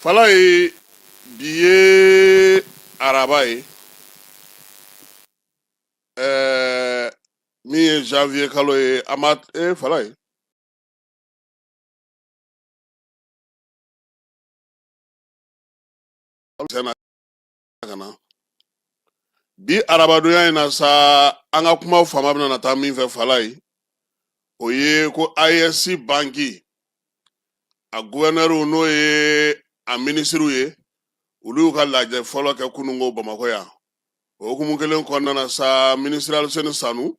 fala ye bi ye araba ye ɛɛ min ye janvier kalo ye a ma e fala ye ka na bi arabadonya in na sa an ka kuma fanba bɛna na taa min fɛ fala ye o ye ko AES banki a guvɛnɛriw n'o ye a minisiriw ye olu y'u ka lajɛ fɔlɔ kɛ kununko bamakɔ yan o hukumu kelen kɔnɔna na sa minisiri aliseni sanu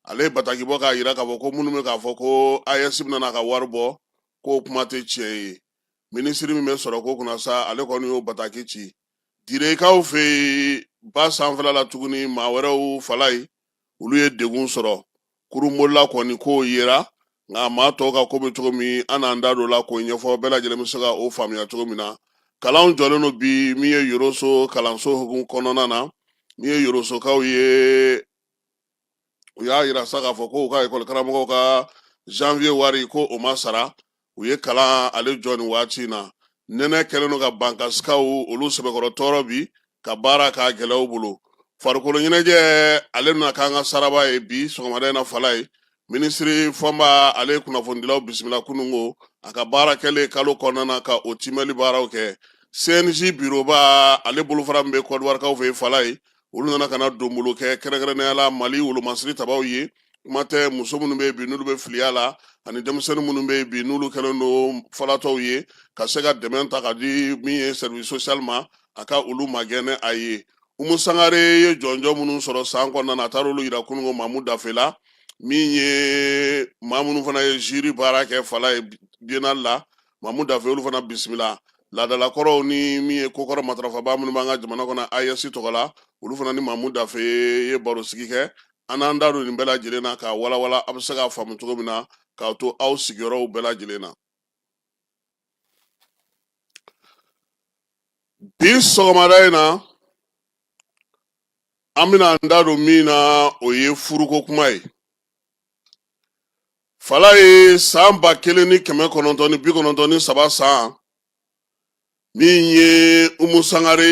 ale ye bataki bɔ k'a yira k'a fɔ ko minnu bɛ k'a fɔ ko AES bɛna na ka wari bɔ k'o kuma tɛ tiɲɛ ye minisiri min bɛ sɔrɔko kunna sa ale kɔni y'o bataki ci direkaw fɛ yen ba sanfɛla la tuguni maa wɛrɛw fala ye olu ye degun sɔrɔ kurunbolila kɔni ko yera nka maa tɔw ka ko bɛ cogo min an n'an da don la k'o ɲɛfɔ bɛɛ lajɛlen bɛ se ka o faamuya cogo min na kalan jɔlen don bi min ye yɔrɔso kalanso hukumu kɔnɔna na min ye yɔrɔsokaw ye u y'a yira sa k'a fɔ ko u ka ekɔli karamɔgɔw ka janvier wari ko o ma sara u ye kalan ale jɔ nin waati in na nɛnɛ kɛlen don ka bankasikaw olu sɛbɛkɔrɔ tɔɔrɔ bi ka baara k'a gɛlɛya u bolo farikolo ɲɛnajɛ ale bɛna k'an ka saraba ye bi sɔgɔmada in na fala ye minisiri fɔnba ale ye kunnafonidilaw bisimila kununko a ka baara kɛlen kalo kɔnɔna na ka o kiimɛli baaraw kɛ cnj biroba ale bolofara min bɛ kɔdiwarikaw fɛ yen fala ye olu nana ka na donbolo kɛ kɛrɛnkɛrɛnnenya la mali wolomasiri tabaw ye kuma tɛ muso minnu bɛ yen bi n'olu bɛ filiya la ani denmisɛnnin minnu bɛ yen bi n'olu kɛlen don falatɔw ye ka se ka dɛmɛ ta ka di min ye sɛriwisi sosiyali ma a ka olu magɛn n'a ye umu sangare ye jɔnjɔn minnu sɔrɔ san kɔnɔna na a taara olu yira kununko mamu dafe la min ye maa minnu fana ye ziri baara kɛ fala ye bienal la mamu dafe olu fana bisimila laadalakɔrɔw ni min ye kokɔrɔ matarafaba minnu b'an ka jamana kɔnɔ ayɛsi tɔgɔ la olu fana ni mamu dafe ye barosigi kɛ an n'an da don nin bɛɛ lajɛlen na k'a walawala a bɛ se k'a faamu cogo min na k'a to aw sigiyɔrɔw bɛɛ lajɛlen na bi sɔgɔmada in na an bɛna an da don min na o ye furuko kuma ye fala ye san ba kelen ni kɛmɛ kɔnɔntɔn ni bi kɔnɔntɔn ni saba san min ye umu sangare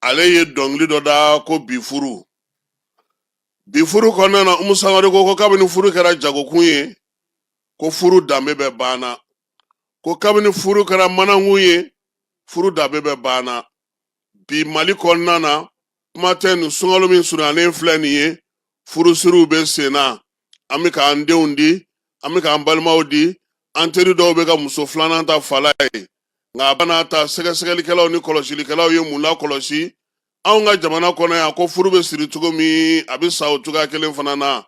ale ye dɔnkili dɔ da ko bi furu bi furu kɔnɔna na umu sangare ko ko kabini furu kɛra jagokun ye ko furu danbe bɛ banna ko kabini furu kɛra manankun ye furu danbe bɛ banna bi mali kɔnɔna na kuma tɛ nin sunkalo min surunyalen filɛ nin ye furusiriw bɛ sen na an bɛ k'an denw di an bɛ k'an balimaw di an teri dɔw bɛ ka muso filanan ta fala ye nka a bɛna ta sɛgɛsɛgɛlikɛlaw ni kɔlɔsilikɛlaw ye mun lakɔlɔsi anw ka jamana kɔnɔ yan ko furu bɛ siri cogo min a bɛ sa o cogoya kelen fana na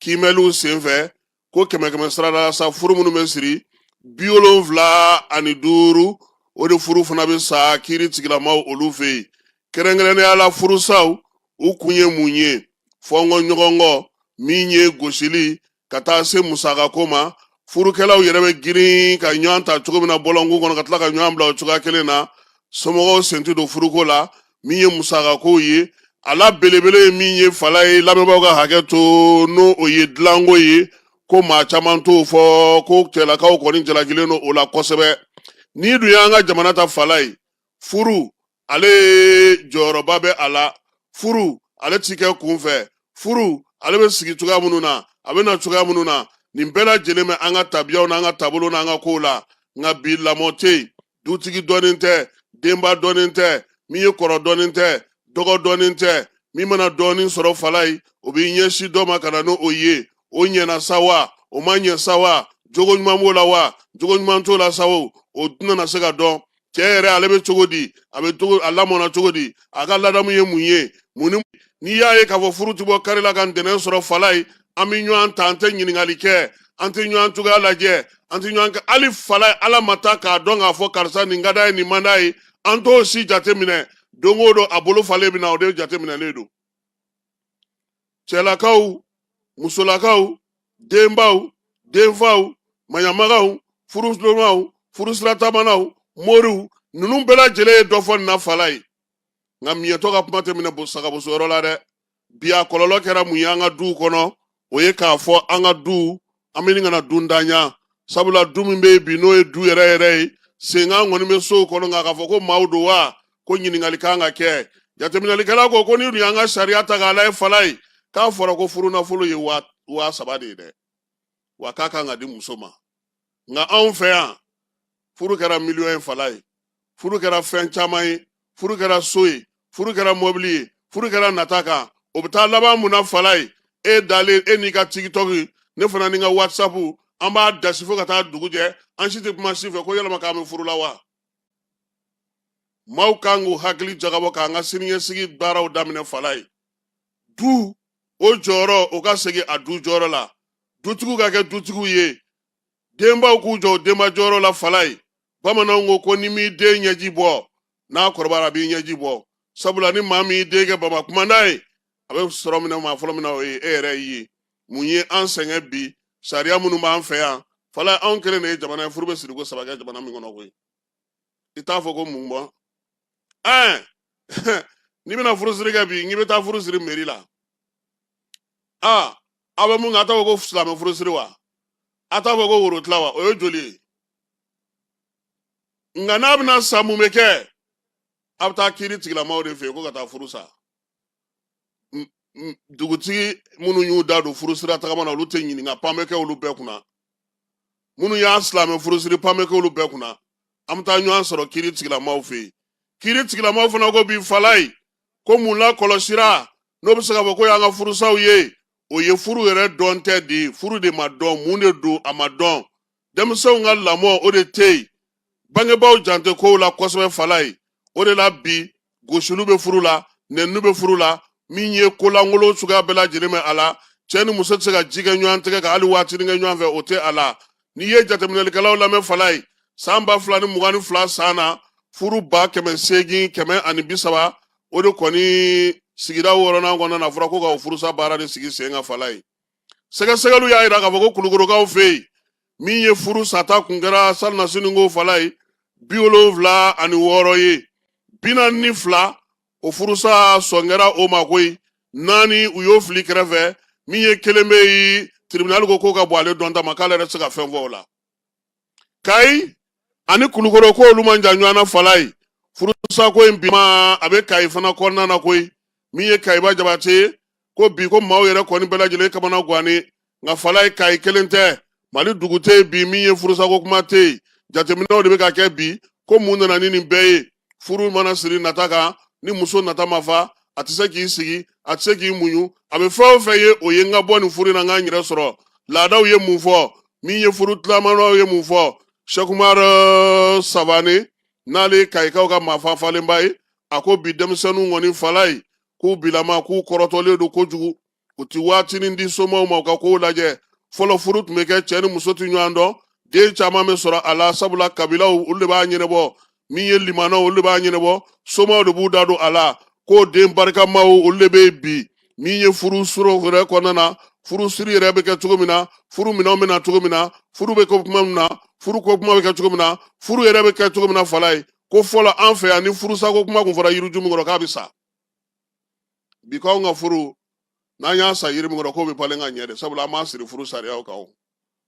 kiimɛliw senfɛ ko kɛmɛ kɛmɛ sarada la sa furu minnu bɛ siri bi wolonfila ani duuru o de furu fana bɛ sa kiiri tigilamaw olu fɛ yen kɛrɛnkɛrɛnnenya la furusaw u kun ye mun ye fɔnkɔ ɲɔgɔnkɔ min ye gosili ka taa se musakako ma furukɛlaw yɛrɛ bɛ girin ka ɲɔgɔn ta cogo min na bɔlɔnkun kɔnɔ ka tila ka ɲɔgɔn bila o cogoya kelen na somɔgɔw sen ti don furuko la min ye musakako ye a la belebele ye min ye fala ye lamɛnbaaw ka hakɛ to n'o o ye dilanko ye ko maa caman t'o fɔ ko cɛlakaw kɔni jalakilen don o la kosɛbɛ n'i dun y'an ka jamana ta fala ye furu ale jɔyɔrɔba bɛ a la furu ale ti kɛ kunfɛ furu ale bɛ sigi cogoya minnu na a bɛ na cogoya minnu na nin bɛɛ lajɛlen bɛ an ka tabiyaw n'an ka taabolo n'an ka kow la nka bi lamɔ tɛ yen dutigi dɔnnen tɛ denba dɔnnen tɛ min ye kɔrɔ dɔnnen tɛ dɔgɔ dɔnnen tɛ min mana dɔɔnin sɔrɔ fala ye o b'i ɲɛsin dɔ ma ka na n'o ye o ɲɛna sa wa o ma ɲɛ sa wa jogo ɲuman b'o la wa jogo ɲuman t'o la sa o o tɛna se ka dɔn cɛ yɛrɛ ale bɛ cogo di a lamɔna cogo di a ka ladamu ye mun ye mun ni n'i y'a ye k'a fɔ furu ti bɔ kari la ka ntɛnɛn sɔrɔ fala ye an bɛ ɲɔgɔn ta an tɛ ɲininkali kɛ an tɛ ɲɔgɔn cogoya lajɛ an tɛ ɲɔgɔn kɛ hali fala ala ma taa k'a dɔn k'a fɔ karisa nin ka d'a ye nin man d'a ye an t'o si jateminɛ don o don a bolo falen bɛ na o de jateminɛlen don cɛlakaw musolakaw denbaw denfaw maɲamagaw furusiramaw furusiratamanaw moriw ninnu bɛɛ lajɛlen ye dɔ fɔ nin na fala ye nka miyɛtɔ ka kuma tɛ minɛ sagabosoyɔrɔ la dɛ bi a kɔlɔlɔ kɛra mun ye an ka duw kɔnɔ o ye k'a fɔ an ka du an bɛ nin kana dundanya sabula du min bɛ yen bi n'o ye du yɛrɛ yɛrɛ ye senkan kɔni bɛ sow kɔnɔ nka k'a fɔ ko maaw don wa ko ɲininkali kan ka kɛ jateminɛlikɛla ko ko n'i dun y'an ka sariya ta k'a lajɛ fala ye k'a fɔra ko furunafolo ye waa saba de ye dɛ wa k'a kan ka di muso ma nka anw fɛ yan furu kɛra miliyɔn ye fala ye furu kɛra fɛn caman ye furu kɛra so ye furu kɛra mɔbili ye furu kɛra nata kan o bɛ taa laban mun na fala ye e dalen e n'i ka tikitɔki ne fana ni n ka whatsapp an b'a dasi fo ka taa dugu jɛ an si tɛ kuma si fɛ ko yala maa k'an bɛ furu la wa maaw kan k'u hakili jagabɔ k'an ka siniɲɛsigi baaraw daminɛ fala ye du o jɔyɔrɔ o ka segin a du jɔyɔrɔ la dutigiw ka kɛ dutigiw ye denbaw k'u jɔ denba jɔyɔrɔ la falayi bamananw ko ko ni m'i den ɲɛji bɔ n'a kɔrɔbara a b'i ɲɛji bɔ sabula ni maa min y'i den kɛ baba kumanda ye a bɛ sɔrɔ minɛ maa fɔlɔ min na o ye e yɛrɛ ye mun ye an sɛgɛn bi sariya minnu b'an fɛ yan falayi anw kelen de ye jamana ye furu bɛ siriko saba kɛ jamana min kɔnɔ koyi i t'a fɔ ko mun bɔ ɛɛ n'i bɛna furusiri kɛ bi n'i bɛ taa furusiri meri la aa aw bɛ mun kɛ a t'a fɔ ko silamɛ furusiri wa a t'a fɔ ko worotila wa o ye joli ye nka n'a bɛna sa mun bɛ kɛ a bɛ taa kiiri tigilamaaw de fɛ yen ko ka taa furu sa dugutigi minnu y'u da don furusira tagama na olu tɛ ɲininka pan bɛ kɛ olu bɛɛ kunna minnu y'a silamɛ furusiri pan bɛ kɛ olu bɛɛ kunna an bɛ taa ɲɔgɔn sɔrɔ kiri tigilamaw fɛ yen kiri tigilamaw fana ko bi falayi ko mun lakɔlɔsira n'o bɛ se ka fɔ k'o y'an ka furusaw ye o ye furu yɛrɛ dɔn tɛ de ye furu de ma dɔn mun de don a ma dɔn denmisɛnw ka lamɔ o de tɛ yen bangebaaw jan tɛ kow la kosɛbɛ falayi o de la bi gosiliw bɛ furu la nɛniniw bɛ furu la min ye kolankolon suguya bɛɛ lajɛlen bɛ a la cɛ ni muso tɛ se ka ji kɛ ɲɔgɔn tɛgɛ kan hali waatinin kɛ ɲɔgɔn fɛ o tɛ a la n'i ye jateminɛlikɛlaw lamɛn falayi san ba fila ni mugan ni fila san na furu ba kɛmɛ seegin kɛmɛ ani bi saba o de kɔni sigida wɔɔrɔnan kɔnɔna na fɔra ko ka o furusa baara de sigi sen kan falayi sɛgɛsɛgɛliw y'a jira k'a fɔ ko kulukorokaw fɛ yen min ye furu sata kun kɛra salinnasini ko falayi bi wolonfila ani wɔɔrɔ ye bi naani ni fila o furusa sɔn kɛra o ma koyi naani u y'o fili kɛrɛfɛ min ye kelen bɛ yen tiribinali ko k'o ka bon ale dɔnta ma k'ale yɛrɛ tɛ se ka fɛn fɔ o la kayi ani kulukoro ko olu man jan ɲɔgɔn na falayi furusa ko in bi ma a bɛ kayi fana kɔnɔna na koyi min ye kayiba jabate ye ko bi ko maaw yɛrɛ kɔni bɛɛ lajɛlen kamana gwannen nka falayi kayi kelen tɛ mali dugu tɛ yen bi min ye furusako kuma tɛ yen jateminɛw de bɛ ka kɛ bi ko mun nana ni nin bɛɛ ye furu mana siri nata kan ni muso nata ma fa a tɛ se k'i sigi a tɛ se k'i muɲu a bɛ fɛn o fɛn ye o ye n ka bɔ nin furu in na n ka n yɛrɛ sɔrɔ laadaw ye mun fɔ min ye furu tilamanaw ye mun fɔ sɛkumari savane n'ale ye kayikaw ka maafa falenba ye a ko bi denmisɛnninw kɔni falayi k'u bilama k'u kɔrɔtɔlen don kojugu u tɛ waatinin di somaw ma u ka kow lajɛ fɔlɔ furu tun bɛ kɛ cɛ ni muso tɛ ɲɔgɔn dɔn den caman bɛ sɔrɔ a la sabula kabilaw olu de b'a ɲɛnɛbɔ min ye limanaw olu de b'a ɲɛnɛbɔ somaw de b'u da don a la k'o den barikamaw olu de bɛ yen bi min ye furu soro yɛrɛ kɔnɔna na furu siri yɛrɛ bɛ kɛ cogo min na furu minɛnw bɛ na cogo min na furu bɛ kɛ kuma min na furu ko kuma bɛ kɛ cogo min na furu yɛrɛ bɛ kɛ cogo min na falayi ko fɔlɔ an fɛ yan ni furusako kuma tun fɔra yiriju min kɔrɔ k'a bɛ sa bi k'anw ka furu n'an y'a san yiri min kɔrɔ k'o bɛ balen ka ɲɛ de sabula an m'a siri furu sariyaw kan o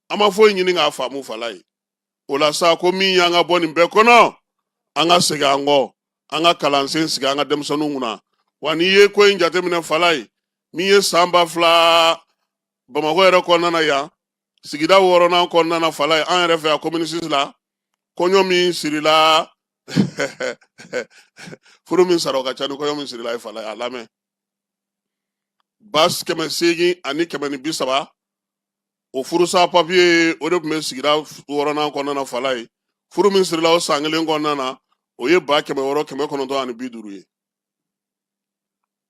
an ma foyi ɲini k'a faamu falayi o la sa ko min y'an ka bɔ nin bɛɛ kɔnɔ an ka segin an kɔ an ka kalansen sigi an ka denmisɛnninw kunna wa n'i ye ko in jateminɛ falayi min ye san ba fila bamakɔ yɛrɛ kɔnɔna na yan sigida wɔɔrɔnan kɔnɔna na falayi an yɛrɛ fɛ yan komini sisi la kɔɲɔ min sirila furu min sara o ka ca ni kɔɲɔ min sirila ye falayi a lamɛn ba kɛmɛ seegin ani kɛmɛ ni bi saba o furusa papiye o de tun bɛ sigida wɔɔrɔnan kɔnɔna na falayi furu min sirila o san kelen kɔnɔna na o ye ba kɛmɛ wɔɔrɔ kɛmɛ kɔnɔntɔn ani bi duuru ye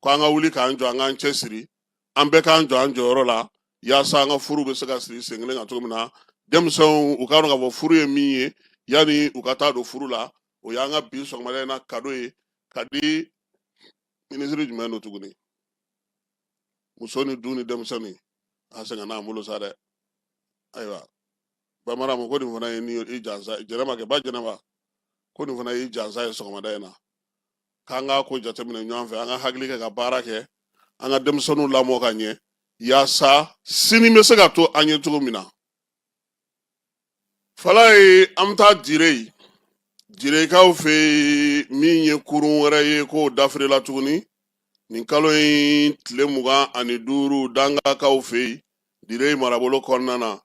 ko an ka wuli k'an jɔ an k'an cɛ siri an bɛɛ k'an jɔ an jɔyɔrɔ la yaasa an ka furu bɛ se ka siri sen kelen kan cogo min na denmisɛnw u k'a dɔn k'a fɔ furu ye min ye yanni u ka taa don furu la o y'an ka bi sɔgɔmada in na kado ye ka di minisiri jumɛn don tuguni muso ni du ni denmisɛnnin a sɛgɛnna an bolo sa dɛ ayiwa ba maramu ko nin fana ye ni i jansa jɛnɛba kɛ ba jɛnɛba ko nin fana y'i jansa ye sɔgɔmada in na k'an ka ko jateminɛ ɲɔgɔn fɛ an ka hakili kɛ ka baara kɛ an ka denmisɛnninw lamɔ ka ɲɛ yaasa sini bɛ se ka to an ye cogo min na falayi an bɛ taa dire direkaw fɛ yen min ye kurun wɛrɛ ye k'o dafirila tuguni nin kalo in tile mugan ani duuru dangakaw fɛ yen dire marabolo kɔnɔna na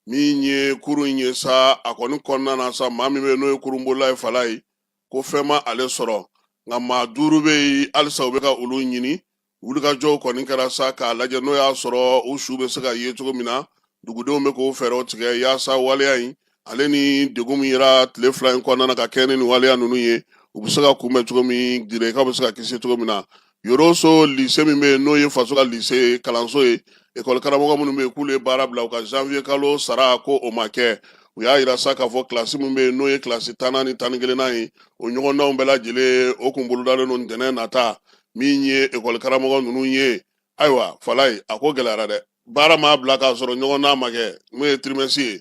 min ye kurun in ye sa a kɔni kɔnɔna na sa maa min bɛ n'o ye kurunbolila ye falayi ko fɛn ma ale sɔrɔ nka maa duuru bɛ yen halisa u bɛ ka olu ɲini wulikajɔw kɔni kɛra sa k'a lajɛ n'o y'a sɔrɔ u su bɛ se ka ye cogo min na dugudenw bɛ k'o fɛɛrɛw tigɛ yaasa waleya in ale ni degun min yera tile fila in kɔnɔna na ka kɛɲɛ ni nin waleya ninnu ye u bɛ se ka kunbɛn cogo min direkaw bɛ se ka kisi cogo min na yoroso lise min bɛ yen n'o ye faso ka lise kalanso ye ekɔli karamɔgɔ minnu bɛ yen k'olu ye baara bila u ka janvier kalo sara ko o ma kɛ u y'a yira sa k'a fɔ kilasi min bɛ yen n'o ye kilasi tannan ni tan ni kelennan ye o ɲɔgɔndanw bɛɛ lajɛlen o kun bolodalen don ntɛnɛn nata min ye ekɔli karamɔgɔ ninnu ye ayiwa falayi a ko gɛlɛyara dɛ baara maa bila k'a sɔrɔ ɲɔgɔndan ma kɛ min ye tirimɛsi ye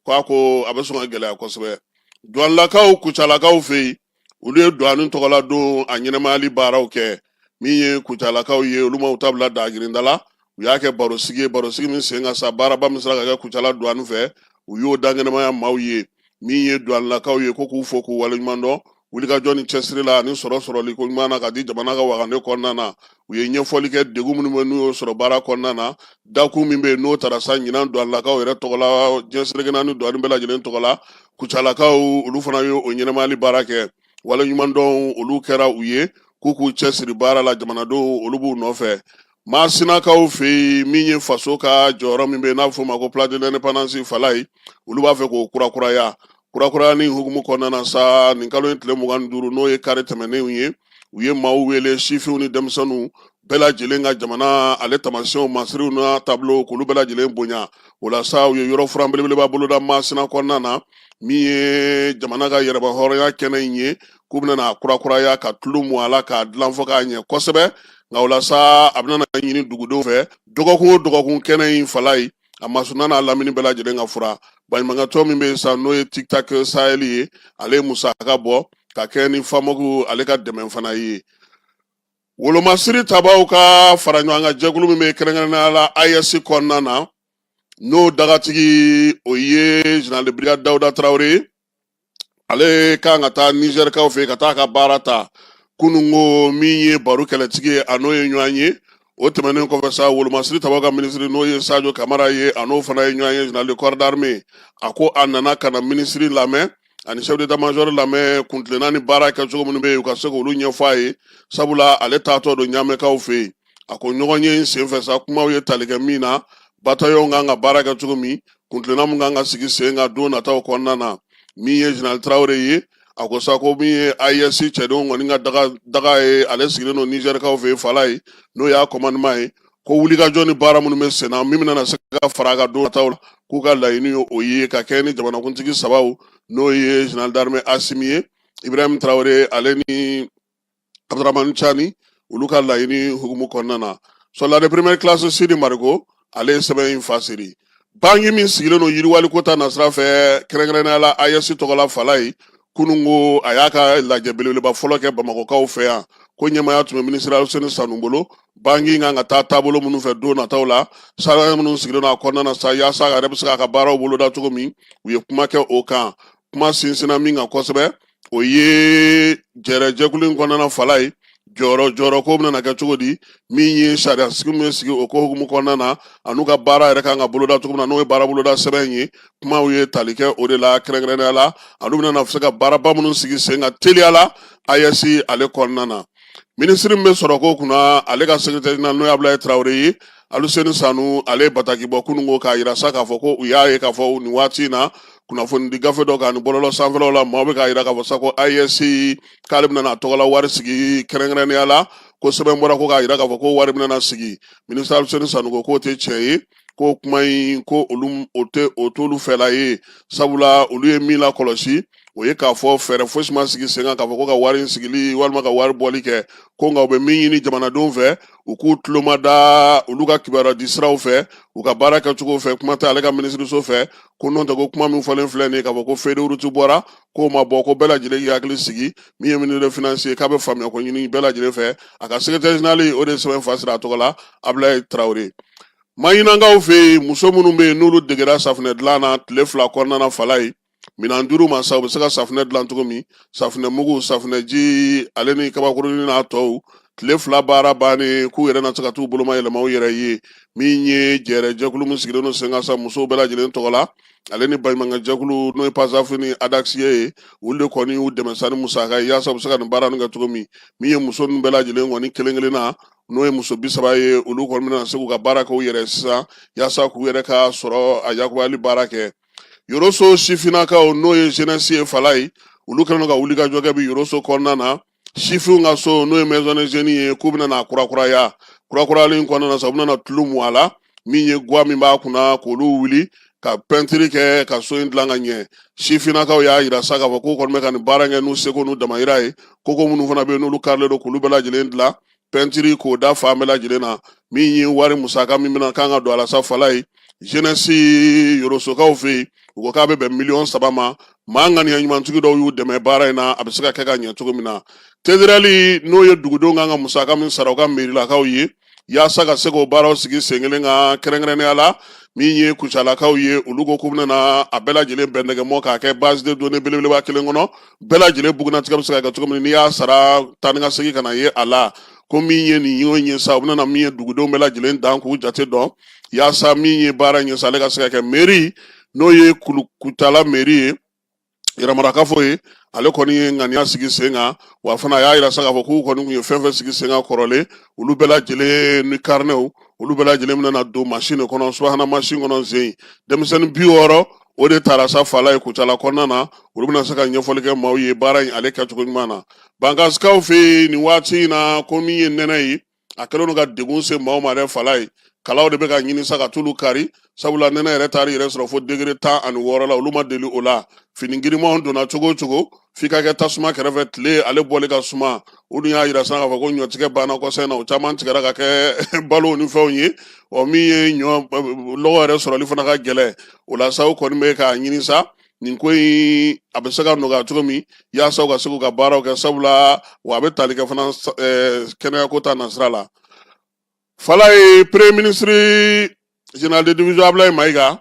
ko a ko a bɛ sɔn ka gɛlɛya kosɛbɛ duwanilakaw kucalakaw fɛ yen olu ye duwani tɔgɔla don a ɲɛnamayali baaraw kɛ min ye kucalakaw ye olu ma u ta bila dagirinda la u y'a kɛ barosigi barosigi min sen kan sa baaraba min sera ka kɛ kucala duwani fɛ u y'o dankɛnɛmaya maaw ye min ye duwanilakaw ye ko k'u fo k'u waleɲuman dɔn wulikajɔ ni cɛsiri la ani sɔrɔ sɔrɔli koɲuman na ka di jamana ka wagande kɔnɔna na u ye ɲɛfɔli kɛ degun minnu bɛ n'u y'o sɔrɔ baara kɔnɔna na dakun min bɛ yen n'o tara sa ɲinan duwanlakaw yɛrɛ tɔgɔ la diɲɛ seleke naani duwani bɛɛ lajɛlen tɔgɔ la kucalakaw olu fana ye o ɲɛnamayali baara kɛ waleɲumandɔn olu kɛra u ye k'u k'u cɛsiri baara la jamanadenw olu b'u nɔfɛ Maasinakaw fɛ yen min ye faso ka jɔyɔrɔ min bɛ n'a bɛ f'o ma ko place de l'indépendance fala ye olu b'a fɛ k'o kurakuraya kurakuraya ni hukumu kɔnɔna na sa nin kalo in tile mugan ni duuru n'o ye kari tɛmɛnenw ye u ye maaw wele sifinw ni denmisɛnninw bɛɛ lajɛlen ka jamana ale taamasiyɛnw masiriw n'a taabolo k'olu bɛɛ lajɛlen bonya o la sa u ye yɔrɔ furan belebeleba boloda masina kɔnɔna na min ye jamana ka yɛrɛmahɔrɔnya kɛnɛ in ye k'u bɛna a kurakuraya ka tulu mun a la k'a dilan fɔ k'a ɲɛ kosɛbɛ nka o la sa a bɛna ɲini dugudenw fɛ dɔgɔkun o dɔgɔkun kɛnɛ in fala ye a masuna n'a lamini bɛɛ lajɛlen k'a furan baɲumankɛtɔn min bɛ yen sa n'o ye tiktak sahɛli ye ale ye musaka bɔ ka kɛ ni FAMOC ale ka dɛmɛ fana ye wolomasiri tabaw ka fara ɲɔgɔn kan jɛkulu min bɛ kɛrɛnkɛrɛnnenya la ayɛsi kɔnɔna na n'o dagatigi o ye général de brigade dawuda tarawele ye ale kan ka taa nizɛrikaw fɛ ka taa ka baara ta kunun ko min ye baro kɛlɛtigi ye a n'o ye ɲɔgɔn ye o tɛmɛnen kɔfɛ sa wolomasiri tabaw ka minisiri n'o ye sajo kamara ye a n'o fana ye ɲɔgɔn ye général de corps d'armée a ko a nana ka na minisiri lamɛn ani chef d'état-major lamɛn kuntilenna ni baara kɛcogo minnu bɛ yen u ka se k'olu ɲɛfɔ a ye sabula ale taatɔ don ɲamɛkaw fɛ yen a ko ɲɔgɔn ye in senfɛ sa kumaw ye tali kɛ min na batayɔn kan ka baara kɛ cogo min kuntilenna min kan ka sigi sen kan don nataw kɔnɔna na min ye général tarawele ye a ko sa ko min ye AES cɛdenw kɔni ka daga ye ale sigilen don nizɛrikaw fɛ fala ye n'o y'a commandement ye ko wulikajɔ ni baara minnu bɛ senna min bɛna se ka fara a kan don nataw la k'u ka laɲini ye o ye ka kɛ ni jamanakuntigi sabaw n'o ye général d'armée asimi ye ibrahim tarawele ale ni abdurahmani cani olu ka laɲini hukumu kɔnɔna na soldat de première classe sidi mariko ale ye sɛbɛn in fasiri banki min sigilen don yiriwaliko ta nasira fɛ kɛrɛnkɛrɛnnenya la ayɛsi tɔgɔla fala ye kunun ko a y'a ka lajɛ belebeleba fɔlɔ kɛ bamakɔkaw fɛ yan ko ɲɛmaaya tun bɛ minisiri aluseni sanu bolo banki kan ka taa taabolo minnu fɛ don nataw la sariya minnu sigilen don a kɔnɔna na sa yaasa a yɛrɛ bɛ se k'a ka baaraw boloda cogo min u ye kuma kɛ o kan kuma sinsinna min kan kosɛbɛ o ye jɛrɛjɛkulu in kɔnɔna fala ye jɔyɔrɔ jɔyɔrɔ ko bɛna kɛ cogo di min ye sariya sigi min bɛ sigi o ko hukumu kɔnɔna na an'u ka baara yɛrɛ kan ka boloda cogo min na n'o ye baara boloda sɛbɛn in ye kumaw ye tali kɛ o de la kɛrɛnkɛrɛnnenya la an'u bɛna se ka baaraba minnu sigi sen kan teliya la ayɛsi ale kɔnɔna na minisiri min bɛ sɔrɔko kunna ale ka secrétaire général n'o ye abulayi tarawele ye Aluseni Sanu ale ye bataki bɔ kunun ko k'a yira sa k'a fɔ ko u y'a ye k'a fɔ nin waati in na kunnafoni di gafe dɔ kan ni bɔlɔlɔ sanfɛlaw la maaw bɛ k'a yira k'a fɔ sa ko AES k'ale bɛna a tɔgɔla wari sigi kɛrɛnkɛrɛnnenya la ko sɛbɛn bɔra ko k'a yira k'a fɔ ko wari bɛna sigi minisita Aluseni Sanu ko k'o tɛ tiɲɛ ye ko kuma in ko olu o t'olu fɛla ye sabula olu ye min lakɔlɔsi o ye k'a fɔ fɛɛrɛ fosi ma sigi sen kan k'a fɔ ko ka wari in sigili walima ka wari bɔli kɛ ko nka u bɛ min ɲini jamanadenw fɛ u k'u tulo mada olu ka kibaruya di siraw fɛ u ka baara kɛcogo fɛ kuma tɛ ale ka minisiriso fɛ ko n'o tɛ ko kuma min fɔlen filɛ nin ye k'a fɔ ko feuille de route bɔra k'o ma bɔ ko bɛɛ lajɛlen k'i hakili sigi min ye ministre des finances ye k'a bɛ faamuya ko ɲini bɛɛ lajɛlen fɛ a ka sekretɛri jenerali o de ye sɛbɛn fa sira a tɔgɔ la Abulayi Tarawele maɲinankaw fɛ yen muso minnu bɛ yen n'olu degera safinɛ dilan na tile fila kɔnɔna na fala ye Minan duuru ma sa u bɛ se ka safinɛ dilan cogo min safinɛ mugu safinɛji ale ni kabakurunin n'a tɔw tile fila baara bannen k'u yɛrɛ na se ka taa u bolomayɛlɛma u yɛrɛ ye min ye jɛ jɛkulu min sigilen don sen kan sa musow bɛɛ lajɛlen tɔgɔ la ale ni baɲumankɛjɛkulu n'o ye panzsaf ni adasi ye olu de kɔni y'u dɛmɛ sa ni musaka ye yaasa u bɛ se ka nin baara kɛ cogo min min ye muso bɛɛ lajɛlen kɔni kelen kelen na n'o ye muso bi saba ye olu kɔni bɛna se k'u ka baara kɛ u yɛrɛ sisan yaasa k'u yɛrɛ ka sɔrɔ a yakuyali baara kɛ yoroso sifinnakaw n'o ye jenɛsi ye fala ye olu kɛlen don ka wulikajɔ kɛ bi yoroso kɔnɔna na sifinw ka so n'o ye maison de jeunes ye k'u bɛna na kurakuraya kurakurayali kɔnɔna na sa u bɛna na tulu mun a la min ye guwa min b'a kunna k'olu wuli ka pɛntiri kɛ ka so in dilan ka ɲɛ sifinnakaw y'a yira sa k'a fɔ k'u kɔni bɛ ka nin baara kɛ n'u seko n'u damayira ye koko minnu fana bɛ yen n'olu karilen don k'olu bɛɛ lajɛlen dilan pɛntiri k'o da fan bɛɛ lajɛlen na min ye wari musaka min bɛna kan ka don a la sa fala ye jenɛsi yorosokaw fɛ yen u ko k'a bɛ bɛn miliyɔn saba ma maa ŋaniya ɲumantigi dɔw y'u dɛmɛ baara in na a bɛ se ka kɛ ka ɲɛ cogo min na TDRL n'o ye dugudenw kan ka musaka min sara u ka merilakaw ye yaasa ka se k'o baaraw sigi sen kelen kan kɛrɛnkɛrɛnnenya la min ye kucalakaw ye olu ko k'u bɛna a bɛɛ lajɛlen bɛn ɲɔgɔn ma k'a kɛ base de données belebeleba kelen kɔnɔ bɛɛ lajɛlen bugunnatigɛ bɛ se ka kɛ cogo min n'i y'a sara taa ni ka segin kana ye a la ko min ye nin y'o ɲɛ sa u bɛna min ye dugudenw bɛɛ lajɛlen dan k'u jate dɔn yaasa min ye baara in ye sa ale ka se ka kɛ meri n'o ye kucala meri ye yɛrɛmarakafo ye ale kɔni ye ŋaniya sigi sen kan wa fana a y'a yira sa k'a fɔ k'u kɔni tun ye fɛn fɛn sigi sen kan kɔrɔlen olu bɛɛ lajɛlen ni karinɛw olu bɛɛ lajɛlen bɛna don masin de kɔnɔ subahana masin kɔnɔ jeunes denmisɛnnin bi wɔɔrɔ o de tara sa fala ye kucala kɔnɔna na olu bɛna se ka ɲɛfɔli kɛ maaw ye baara in ale kɛcogo ɲuman na bankansikaw fɛ yen nin waati in na ko min ye nɛnɛ ye a kɛlen don ka degun se maaw ma dɛ fala ye kalaw de bɛ ka ɲini sa ka tulu kari sabula nɛnɛ yɛrɛ taar'i yɛrɛ sɔrɔ fo degere tan ani wɔɔrɔ la olu ma deli o la fini girimanw donna cogo o cogo f'i ka kɛ tasuma kɛrɛfɛ tile ale bɔli ka suma o dun y'a yira sa k'a fɔ ko ɲɔtigɛ banna kɔsɛbɛ na o caman tigɛra ka kɛ balo ni fɛnw ye ɔ min ye ɲɔ lɔgɔ yɛrɛ sɔrɔli fana ka gɛlɛn o la sa u kɔni bɛ k'a ɲini sa nin ko in a bɛ se ka nɔgɔya cogo min yaasa u ka se k'u ka baaraw kɛ sabula wa a bɛ tali kɛ fana kɛnɛyako ta nasira la fan la yen premier ministre general de division ablaye mayiga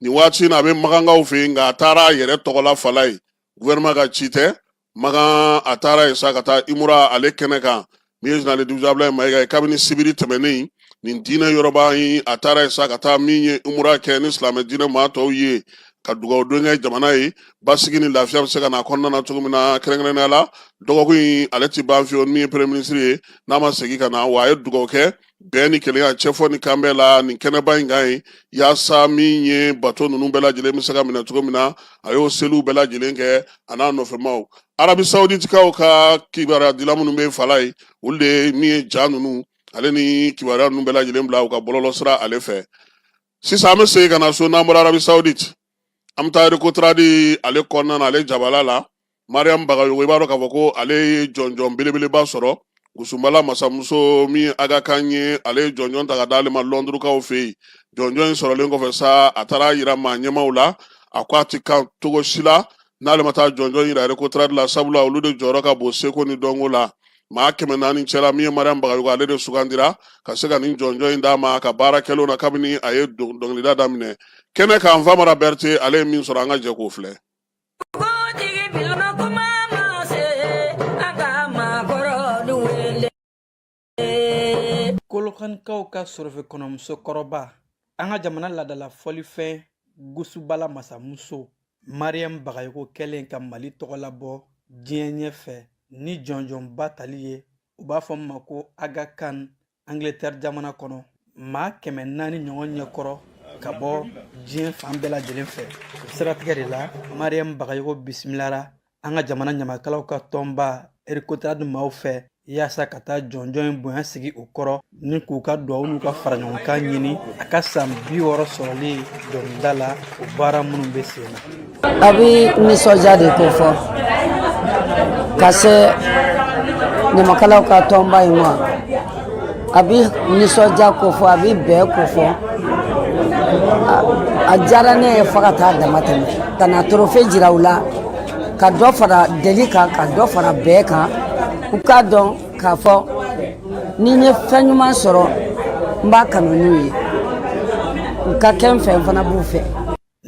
nin waati in na a bɛ magankaw fɛ yen nka a taara a yɛrɛ tɔgɔ la fan la yen gouvernement ka ci tɛ magan a taara yen sa ka taa imura ale kɛnɛ kan min ye general de division ablaye mayiga ye kabini sibiri tɛmɛnen nin diinɛ yɔrɔba in a taara yen sa ka taa min ye imura kɛ ni silamɛ diinɛ maa tɔw ye ka dugawu don kɛ jamana ye basigi ni lafiya bɛ se ka na kɔnɔna na cogo min na kɛrɛnkɛrɛnnenya la dɔgɔkun in ale ti ban fiyewu min ye premier ministre ye n'a ma segin ka na wa a ye dugawu kɛ bɛn ni kelenya cɛfɔ ni kanbɛn la nin kɛnɛba in kan ye yaasa min ye bato ninnu bɛɛ lajɛlen bɛ se ka minɛ cogo min na a y'o seliw bɛɛ lajɛlen kɛ a n'a nɔfɛmaw arabi sauditikaw ka kibaruyadila minnu bɛ fan la yen olu de min ye ja ninnu ale ni kibaruya ninnu bɛɛ lajɛlen bila u ka bɔlɔlɔ sira ale fɛ sisan an bɛ segin ka na so n'an bɔra arabi saudite an bɛ taa recotrade ale kɔnɔna na ale jabala la mariyamu bagayogo i b'a dɔn k'a fɔ ko ale ye jɔnjɔn belebeleba sɔrɔ gusunbala masamuso min aga kan ye ale ye jɔnjɔn ta ka d'ale ma lɔndurukaw fɛ yen jɔnjɔn in sɔrɔlen kɔfɛ sa a taara yira maa ɲɛmaw la a ko a ti kan cogo si la n'ale ma taa jɔnjɔn in yira recotrade la sabula olu de jɔyɔrɔ ka bon seko ni dɔnko la maa kɛmɛ naani cɛla min ye mariam bagayogo ale de sugandira ka se ka nin jɔnjɔn in d'a ma a ka baara kɛlenw na kabini a ye dɔnkilida daminɛ kɛnɛ kan famara bɛrɛte ale ye min sɔrɔ an ka jɛ k'o filɛ kolokanikaw ka sɔrɔfɛ kɔnɔmuso kɔrɔba an ka jamana ladala fɔlifɛn gusubala masamuso mariyamu bagayogo kɛlen ka mali tɔgɔ labɔ diɲɛ ɲɛfɛ ni jɔnjɔnba tali ye u b'a fɔ min ma ko aga kan angletɛri jamana kɔnɔ maa kɛmɛ naani ɲɔgɔn ɲɛkɔrɔ ka bɔ diɲɛ fan bɛɛ lajɛlen fɛ siratigɛ de la mariyamu bagayogo bisimilara an ka jamana ɲamakalaw ka tɔnba recotrade maaw fɛ yaasa ka taa jɔnjɔn in bonya sigi u kɔrɔ ni k'u ka duwawu n'u ka faraɲɔgɔnkan ɲini a ka san bi wɔɔrɔ sɔrɔli dɔnkilida la o baara minnu bɛ sen na a bɛ nisɔndiya de ko fɔ ka se ɲamakalaw ka tɔnba in ma a bɛ nisɔndiya ko fɔ a bɛ bɛn ko fɔ a diyara ne ye fo ka taa dama tɛmɛ ka na trophée jira u la ka dɔ fara deli kan ka dɔ fara bɛn kan u k'a dɔn k'a fɔ ni n ye fɛn ɲuman sɔrɔ n b'a kanu n'u ye u ka kɛ n fɛ n fana b'u fɛ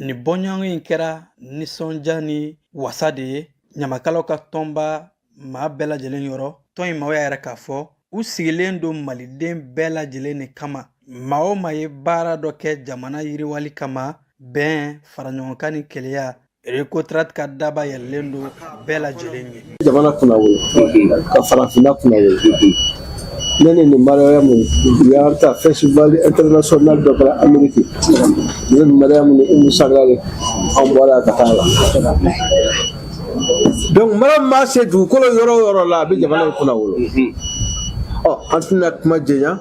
Ni bɔɲɔgɔn in kɛra nisɔndiya ni wasa de ye ɲamakalaw ka tɔnba maa bɛɛ lajɛlen yɔrɔ tɔn in maaw y'a yira k'a fɔ u sigilen don maliden bɛɛ lajɛlen de kama maa o maa ye baara dɔ kɛ jamana yiriwali kama bɛn faraɲɔgɔnkan ni keleya rekotradi ka daba yɛlɛlen don bɛɛ lajɛlen ye jamana kunnawolo ka farafinna kunnawolo ne ni nin mariyamu u y'a ta festival international dɔ kɛra ameriki ne ni mariyamu ni umu sangare an bɔra ka taa la donc mariyamu maa se dugukolo yɔrɔ o yɔrɔ la a bɛ jamana in kunnawolo ɔ an tɛna kuma janya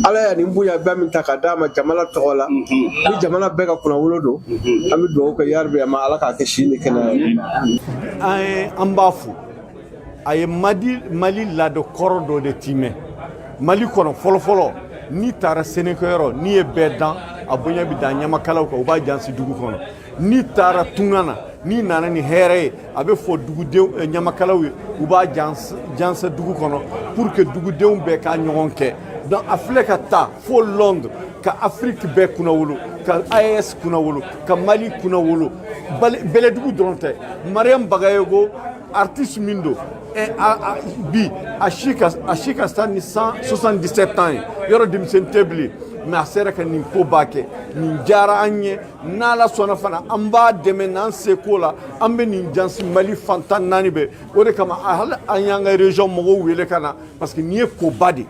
ala ye nin bonyaba min ta ka d'a ma jamana tɔgɔ la ni jamana bɛɛ ka kunnawolo don an bɛ dugawu kɛ yarabi a ma ala k'a kɛ si ni kɛnɛya ye an ye an b'a fo a ye mali laada kɔrɔ dɔ de timɛ mali kɔnɔ fɔlɔfɔlɔ n'i taara sɛnɛkɛyɔrɔ n'i ye bɛɛ dan a bonya bɛ da ɲamakalaw kan u b'a jansa dugu kɔnɔ n'i taara tunga na n'i nana ni hɛrɛ ye a bɛ fɔ dugudenw eh, ɲamakalaw ye u b'a jansa dugu kɔnɔ pour que dugudenw bɛɛ k'a ɲɔgɔn kɛ donc a filɛ ka taa fo londres ka afiriki bɛɛ kunnawolo ka aes kunnawolo ka mali kunnawolo bɛlɛdugu dɔrɔn tɛ mariam bagayoko artiste min don bi a si ka ca ni 77 ans ye yɔrɔ denmisɛnnin tɛ bilen mais a sera ka nin koba kɛ nin diyara an ye n'ala sɔnna fana an b'a dɛmɛ n'an seko la an bɛ nin jansa mali fan tan naani bɛɛ o de kama hali an y'an ka région mɔgɔw wele ka na parce que nin ye koba de ye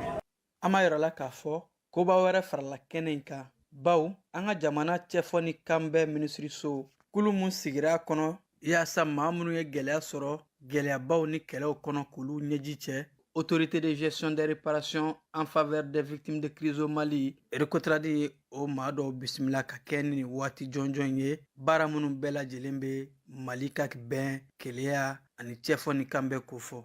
an b'a yira aw la k'a fɔ koba wɛrɛ farala kɛnɛ in kan baw an ka jamana cɛfɔ ni kanbɛn minisiriso kulu min sigira a kɔnɔ yaasa maa minnu ye gɛlɛya sɔrɔ gɛlɛyabaw ni kɛlɛw kɔnɔ k'olu ɲɛji cɛ autorité de gestion des réparations en faveur des victimes de crise au mali rekotradi ye o maa dɔw bisimila ka kɛɲɛ ni waati jɔnjɔn ye baara minnu bɛɛ lajɛlen bɛ mali ka bɛn keleya ani cɛfɔ ni kanbɛn kofɔ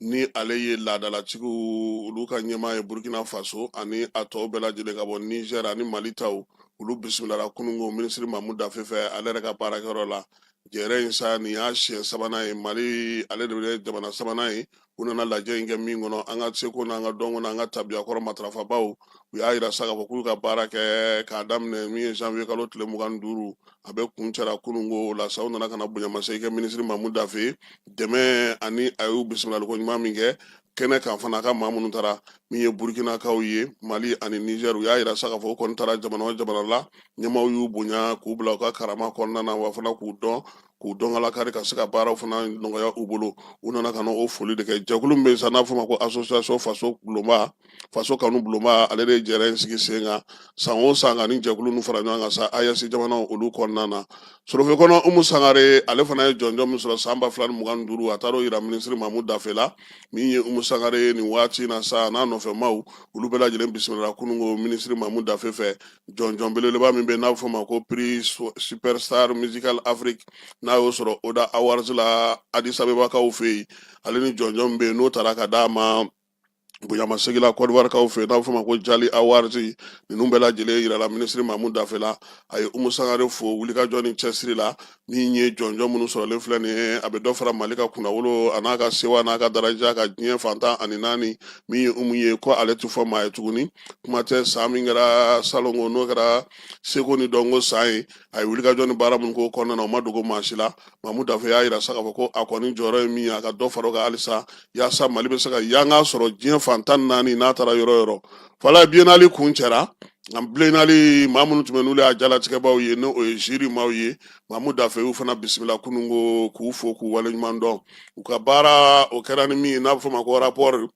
ni ale ye laadalatigiw olu ka ɲɛmaa ye burkina faso ani a tɔw bɛɛ lajɛlen ka bɔ nizɛr ani mali taw olu bisimilara kunungo minisiri mamu dafe fɛ ale yɛrɛ ka baarakɛyɔrɔ la jɛrɛ in sa nin y'a siɲɛ sabanan ye mali ale de bɛ jamana sabanan ye u nana lajɛ in kɛ min kɔnɔ an ka seko n'an ka dɔnko n'an ka tabiyakɔrɔ matarafabaw u y'a yira sa k'a fɔ k'u y'u ka baara kɛ k'a daminɛ min ye janvier kalo tile mugan ni duuru a bɛɛ kuncɛra kunungo la sa u nana ka na bonyamasegin kɛ minisiri mamu dafe dɛmɛ ani a y'u bisimilaliko ɲuman min kɛ kɛnɛ kan fana a ka maa minnu taara min ye burukinakaw ye mali ani nizɛr u y'a yira sa k'a fɔ u kɔni taara jamana o jamana la ɲɛmaaw y'u bonya k'u bila u ka karama kɔnɔna na wa fana k'u dɔn k'u dɔn ala kari ka se ka baaraw fana nɔgɔya u bolo u nana ka na o foli de kɛ jɛkulu min bɛ yen sa n'a fɔ ma ko association faso bulonba faso kanu bulonba ale de jɛra in sigi sen kan san o san ka ni jɛkulu nu fara ɲɔgɔn kan sa aes jamanaw olu kɔnɔna na sorofe kɔnɔ umu sangare ale fana ye jɔnjɔn min sɔrɔ san ba fila ni mugan ni duuru a taar'o yira minisiri mamu dafe la min ye umu sangare ye nin waati na sa n'a nɔfɛmaaw olu bɛɛ lajɛlen bisimila kununko minisiri mamu dafe fɛ jɔnjɔn belebeleba min bɛ n'a bɛ fɔ ma ko prix su- superstar musical afrique n'a y'o sɔrɔ oda awards la adisabebakaw fɛ yen ale ni jɔnjɔn min bɛ yen n'o taara ka d'a ma bonyamasegi la kɔdiwarikaw fɛ n'a bɛ fɔ ma ko jali awards ninnu bɛɛ lajɛlen yirala minisiri mamu dafe la a ye umu sangare fo wulikajɔ ni cɛsiri la min ye jɔnjɔn minnu sɔrɔlen filɛ nin ye a bɛ dɔ fara mali ka kunnawolo a n'a ka sewa n'a ka daraja kan diɲɛ fan tan ani naani min ye umu ye ko ale tɛ fɔ maa ye tuguni kuma tɛ san min kɛra salongo n'o kɛra seko ni dɔnko san ye a ye wulikajɔ ni baara minnu k'o kɔnɔna na o ma dogo maa si la mamu dafe y'a yira sa k'a fɔ ko a kɔni jɔyɔrɔ ye min ye a ka dɔ fara o kan halisa yaasa mali bɛ se ka yanga sɔrɔ diɲɛ fan tan ni naani n'a taara yɔrɔ yɔrɔ fala biennale kuncɛra an biennale maa minnu tun bɛ n'olu y'a jalatigɛbaaw ye n'o ye jury maaw ye mamu dafe y'u fana bisimila kununko k'u fo k'u waleɲuman dɔn u ka baara o kɛra ni min ye n'a bɛ fɔ o ma ko rapport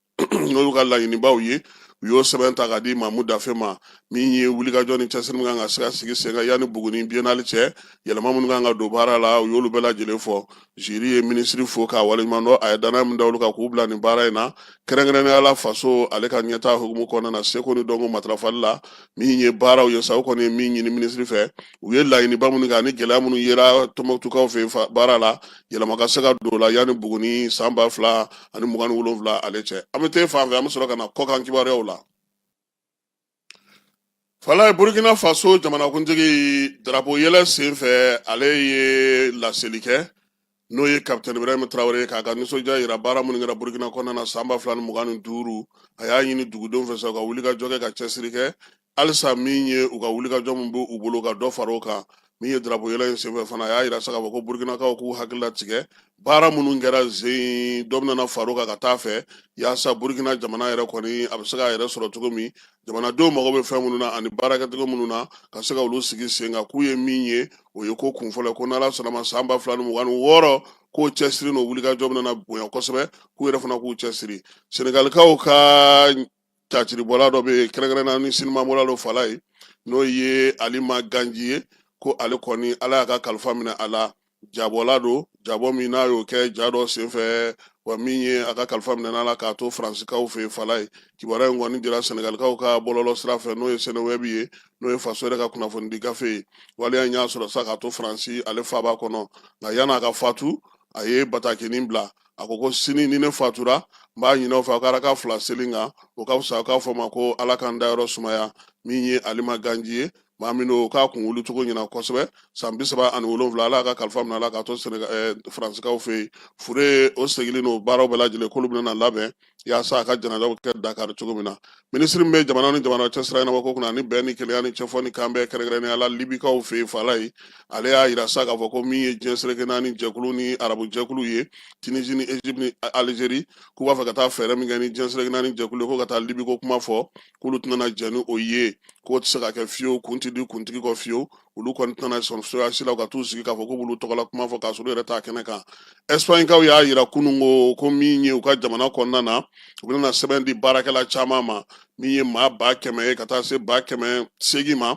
n'o y'u ka laɲinibaw ye u y'o sɛbɛn ta k'a di mamu dafe ma min ye wulikajɔ ni cɛsiri min kan ka se ka sigi sen kan yanni buguni biennale cɛ yɛlɛma minnu kan ka don baara la u y'olu bɛɛ lajɛlen fɔ jury ye minisiri fo k'a waleɲuman dɔn a ye danaya min da olu kan k'u bila nin baara in na kɛrɛnkɛrɛnnenya la faso ale ka ɲɛtaa hukumu kɔnɔna na seko ni dɔnko matarafali la min ye baaraw ye sa o kɔni ye min ɲini minisiri fɛ u ye laɲiniba minnu kɛ ani gɛlɛya minnu yera tɔnbukutukaw fɛ baara la yɛlɛma ka se ka don o la yanni buguni san ba fila ani mugan ni wolonwula ale cɛ an bɛ taa fan fɛ an bɛ sɔrɔ ka na kɔkan kibaruyaw la fala ye burukina faso jamanakuntigi darapo yɛlɛ sen fɛ ale ye laseli kɛ n'o ye capitaine ibrahim traoré ye k'a ka nisɔndiya yira baara minnu kɛra burkina kɔnɔna na san ba fila ni mugan ni duuru a y'a ɲini dugudenw fɛ sa u ka wulikajɔ kɛ ka cɛsiri kɛ halisa min ye u ka wulikajɔ min bɛ u bolo ka dɔ fara o kan min ye drapo yɛlɛ in senfɛ fana a y'a yira sa k'a fɔ ko burkinakaw k'u hakili latigɛ baara minnu kɛra zen dɔ bɛna far'o kan ka taa fɛ yaasa burkina jamana yɛrɛ kɔni a bɛ se k'a yɛrɛ sɔrɔ cogo min jamanadenw mago bɛ fɛn minnu na ani baarakɛcogo minnu na ka se ka olu sigi sen kan k'u ye min ye o ye ko kunfɔlɔ ko n'ala sɔnn'a ma san ba fila ni mugan ni wɔɔrɔ k'o cɛsiri n'o wulikajɔ bɛna bonya kosɛbɛ k'u yɛrɛ fana k'u cɛsiri senegalikaw ka caciribɔla dɔ bɛ yen kɛrɛnkɛrɛnna ni sinimabɔla dɔ fala ye n'o ye alima ganji ye ko ale kɔni ala y'a ka kalifa minɛ a la jabɔla don jabɔ min n'a y'o kɛ ja dɔ senfɛ wa min ye a ka kalifa minɛ a la k'a to faransikaw fɛ yen fala ye kibaruya in kɔni dira sɛnɛgalikaw ka bɔlɔlɔ sira fɛ n'o ye sɛnɛwɛbi ye n'o ye faso yɛrɛ ka kunnafonidi gafe ye waleya in y'a sɔrɔ sa k'a to faransi ale faba kɔnɔ nka yan'a ka fatu a ye batakinin bila a ko ko sini ni ne fatura n b'a ɲin'aw fɛ aw ka raka fila seli kan o ka fisa aw k'a fɔ ma ko ala ka n dayɔrɔ sumaya min ye alima ganji ye maa min don k'a kun wuli cogo ɲɛna kosɛbɛ san bi saba ani wolonwula ala y'a ka kalifa minɛ a la k'a to eh, faransikaw fɛ yen fure o segili n'o baaraw bɛɛ lajɛlen k'olu bɛna labɛn yaasa a ka janajaw kɛ dakari cogo min na minisiri min bɛ jamana ni jamana cɛ sira ɲɛnabɔ ko kunna ani bɛn ni kelenya ni cɛfɔ ni kan bɛɛ kɛrɛnkɛrɛnnenya la libikaw fɛ yen fala ye ale y'a yira sa k'a fɔ ko min ye diɲɛ seleke naani jɛkulu ni arabu jɛkulu ye tunisi ni egypte ni algérie k'u b'a fɛ ka taa fɛɛrɛ min kɛ ni diɲɛ seleke naani jɛkulu ye ko ka taa libi ko kuma fɔ k'olu tɛna jɛ ni o ye k'o tɛ se ka kɛ fiyewu kun tɛ di kuntigi kɔ fiyewu olu kɔni tɛna sɔn cogoya si la ka t'u sigi k'a fɔ ko b'olu tɔgɔla kuma fɔ k'a sɔrɔ u yɛrɛ t'a kɛnɛ kan ɛsipaɲikaw y'a yira kunun ko ko min ye u ka jamana kɔnɔna na u bɛna sɛbɛn di baarakɛla caman ma min ye maa ba kɛmɛ ye ka taa se ba kɛmɛ seegin ma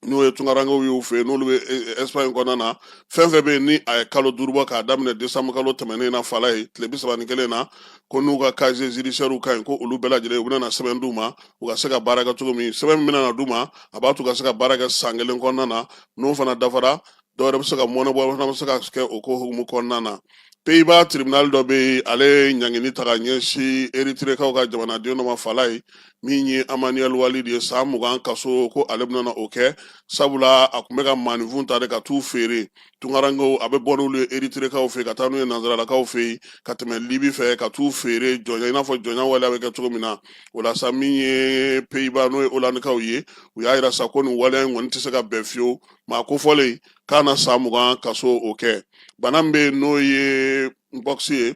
n'o ye tunkarankew y'u fɛ yen n'olu bɛ ɛsipaɲi e, e, kɔnɔna na fɛn fɛn bɛ yen ni a ye kalo duuru bɔ k'a daminɛ desanbu kalo tɛmɛnen na fala ye tile bi saba ni kelen na ko n'u ka casier judiciairew ka ɲi ko olu bɛɛ lajɛlen u bɛna na sɛbɛn d'u ma u ka se ka baara kɛ cogo min sɛbɛn min bɛna na d'u ma a b'a to u ka se ka baara kɛ san kelen kɔnɔna na n'o fana dafara dɔw yɛrɛ bɛ se ka mɔɔnɔbɔ fana bɛ se ka kɛ o ko hukumu kɔnɔna na peyiba tribunali dɔ bɛ yen ale ye ɲangini ta ka ɲɛsin eritirekaw ka jamanaden dɔ ma fala ye min ye amanuel walid ye san mugan kaso ko ale bɛna o kɛ sabula a tun bɛ ka maaninfin ta de ka t'u feere tunkarankew a bɛ bɔ n'olu ye eritirekaw fɛ ka taa n'u ye nanzaralakaw fɛ yen ka tɛmɛ libi fɛ ka t'u feere jɔnya i n'a fɔ jɔnya waleya bɛ kɛ cogo min na o la sa min ye peyiba n'o ye olandikaw ye u y'a yira sa ko nin waleya in kɔni tɛ se ka bɛn fiyewu maa kofɔlen k'a na san mugan kaso o kɛ bana min bɛ yen n'o ye mpox ye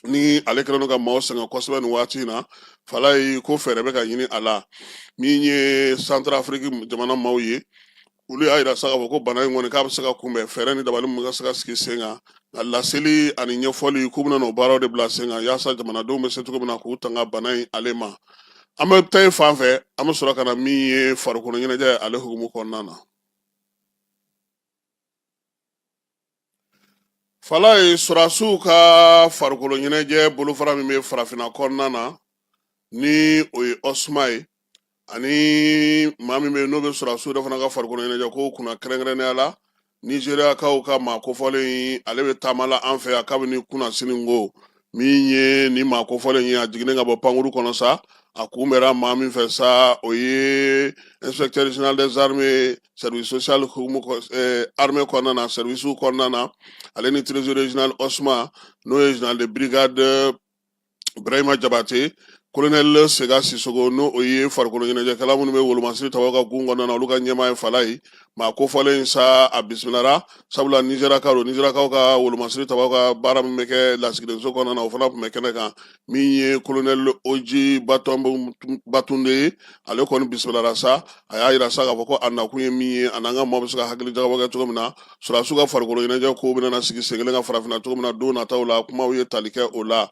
ni ale kɛlen don ka maaw sɛgɛn kosɛbɛ nin waati in na fala ye ko fɛɛrɛ bɛ ka ɲini a la min ye santarafiriki jamana maaw ye olu y'a yira sa k'a fɔ ko bana in kɔni k'a bɛ se ka kunbɛn fɛɛrɛ ni dabali mun ka se ka sigi sen kan a laseli ani ɲɛfɔli k'u bɛna n'o baaraw de bila sen kan yaasa jamanadenw bɛ se cogo min na k'u tanga bana in ale ma an bɛ taa fan fɛ an bɛ sɔrɔ ka na min ye farikolo ɲɛnajɛ ale hukumu kɔnɔna na fala ye sɔrɔdasiw ka farikolo ɲɛnajɛ bolofara min bɛ farafinna kɔnɔna na ni o ye OSMA ye ani maa min bɛ yen n'o bɛ sɔrɔdasiw yɛrɛ fana ka farikolo ɲɛnajɛ ko kunna kɛrɛnkɛrɛnnenya la nizeriyakaw ka maa kofɔlen ale bɛ taama la an fɛ yan kabini kunasiniko min ye nin maa kofɔlen ye a jiginnen ka bɔ pankuru kɔnɔ sa a kunbɛra maa min fɛ sa o ye inspecteur général des armées service social armée kɔnɔna na service kɔnɔna na ale ni trésorier général OSMA n'o ye général de brigade Ibrahima Jabate kolonɛli Sega Sisoko n'o ye farikolo ɲɛnajɛkɛla minnu bɛ wolomasiri tabaw ka gun kɔnɔna na olu ka ɲɛmaa ye fala ye maa kofɔlen sa a bisimilara sabula nizeriyaka don nizeriyakaw ka wolomasiri tabaw ka baara min bɛ kɛ lasigidenso kɔnɔna na o fana tun bɛ kɛnɛ kan min ye kolonɛli Oji Batunde ye ale kɔni bisimilara sa a y'a yira sa k'a fɔ ko a nakun ye min ye a n'an ka maaw bɛ se ka hakili jagabɔ kɛ cogo min na sɔrɔdasiw ka farikolo ɲɛnajɛ ko bɛna sigi sen kelen kan farafinna cogo min na don nataw la kumaw ye tali kɛ o la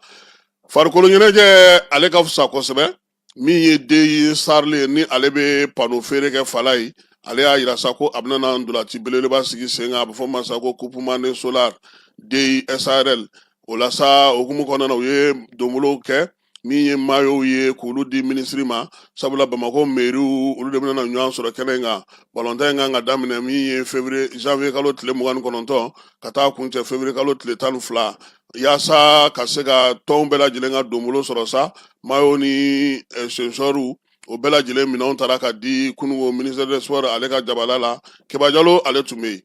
farikolo ɲɛnajɛ ale ka fisa kosɛbɛ min ye Deyi SARL ye ni ale bɛ pano feere kɛ fala ye ale y'a yira sa ko a bɛna na ntolaci belebeleba sigi sen kan a bɛ fɔ min ma sa ko coupe Mane solar Deyi SARL o la sa hukumu kɔnɔna na u ye donbolow kɛ min ye mayow ye k'olu di minisiri ma sabula bamakɔ meriw olu de bɛna ɲɔgɔn sɔrɔ kɛnɛ in kan balɔntan in kan ka daminɛ min ye fevrier janvier kalo tile mugan ni kɔnɔntɔn ka taa kuncɛ fevrier kalo tile tan ni fila yaasa ka se ka tɔnw bɛɛ lajɛlen ka donbolo sɔrɔ sa mayo ni eh, sensɔriw o bɛɛ lajɛlen minɛnw taara ka di kununko ministère des sports ale ka jabala la Keba Jalo ale tun bɛ yen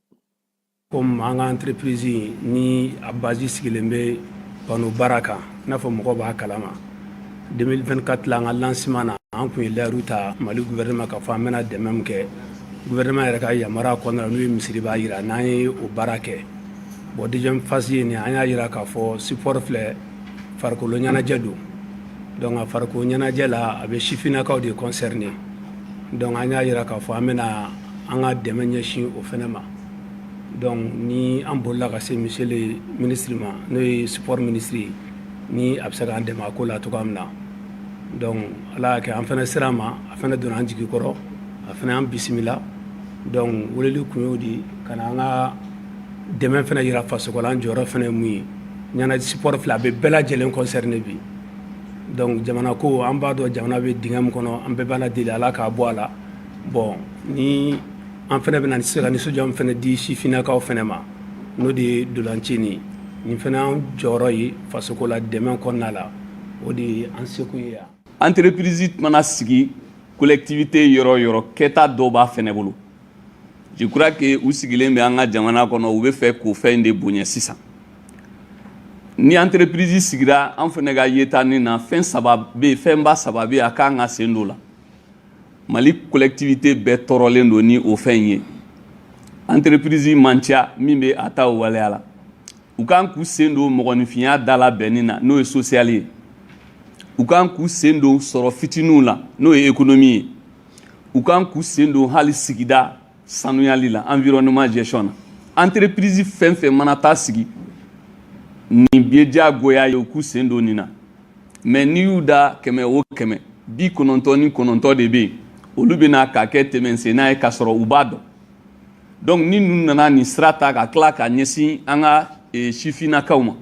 comme an ka antirepirizi ni a bazi sigilen bɛ pano baara kan i n'a fɔ mɔgɔw b'a kalama 2024 la an ka lansiman na an tun ye layiru ta mali guvɛrɛnɛma k'a fɔ an bɛna dɛmɛ min kɛ guvɛrɛnɛma yɛrɛ ka yamaruya kɔnɔna n'u ye misiri b'a jira n'an ye o baara kɛ bɔn deuxième phase ye nin an y'a jira k'a fɔ sport filɛ farikolo ɲɛnajɛ don donc a farikolo ɲɛnajɛ la a bɛ sifinnakaw de concerné donc an y'a jira k'a fɔ an bɛna an ka dɛmɛ ɲɛsin o fɛnɛ ma Dɔnku ni an bolila ka se monsieur le ministre ma n'o ye sport ministre ye ni a bɛ se k'an dɛmɛ a ko la cogoya min na dɔnku ala y'a kɛ an fɛnɛ sera a ma a fɛnɛ donna an jigi kɔrɔ a fɛnɛ an bisimila dɔnku weleli kun y'o de ka na an ka dɛmɛ fɛnɛ yira fasoko la an jɔyɔrɔ fɛnɛ ye mun ye sport filɛ a bɛ bɛɛ lajɛlen concerné bi dɔnku jamana ko an b'a dɔn jamana bɛ dingɛ min kɔnɔ an bɛɛ b'ala deli ala k'a bɔ a la bɔn ni an fɛnɛ bɛna se ka nisɔndiya min fɛnɛ di sifinnakaw fɛnɛ ma n'o de ye ntolacinin nin fɛnɛ an jɔyɔrɔ ye fasoko la dɛmɛ kɔnɔna la o de ye an sekun ye yan entreprise mana sigi collectivité yɔrɔ yɔrɔ kɛta dɔ b'a fɛnɛ bolo je crois que u sigilen bɛ an ka jamana kɔnɔ u bɛ fɛ k'o fɛn in de bonya sisan ni entreprise sigira an fɛnɛ ka yeta nin na fɛn saba bɛ fɛnba saba bɛ a kan ka sen don la mali collectivité bɛɛ tɔɔrɔlen don ni o fɛn in ye entreprise man ca min bɛ a ta o waleya la u kan k'u sen don mɔgɔninfinya dala bɛnni na n'o ye social ye u kan k'u sen don sɔrɔ fitininw la n'o ye économie ye u kan k'u sen don hali sigida sanuyali la environnement gestion na entreprise fɛn fɛn mana taa sigi nin ye diyagoya ye u k'u sen don nin na mais n'i y'u da kɛmɛ o kɛmɛ bi kɔnɔntɔn ni kɔnɔntɔn de bɛ yen olu bɛna k'a kɛ tɛmɛsenna ye k'a sɔrɔ u b'a dɔn donc ni ninnu nana nin sira ta ka tila ka ɲɛsin an ka e, sifinnakaw ma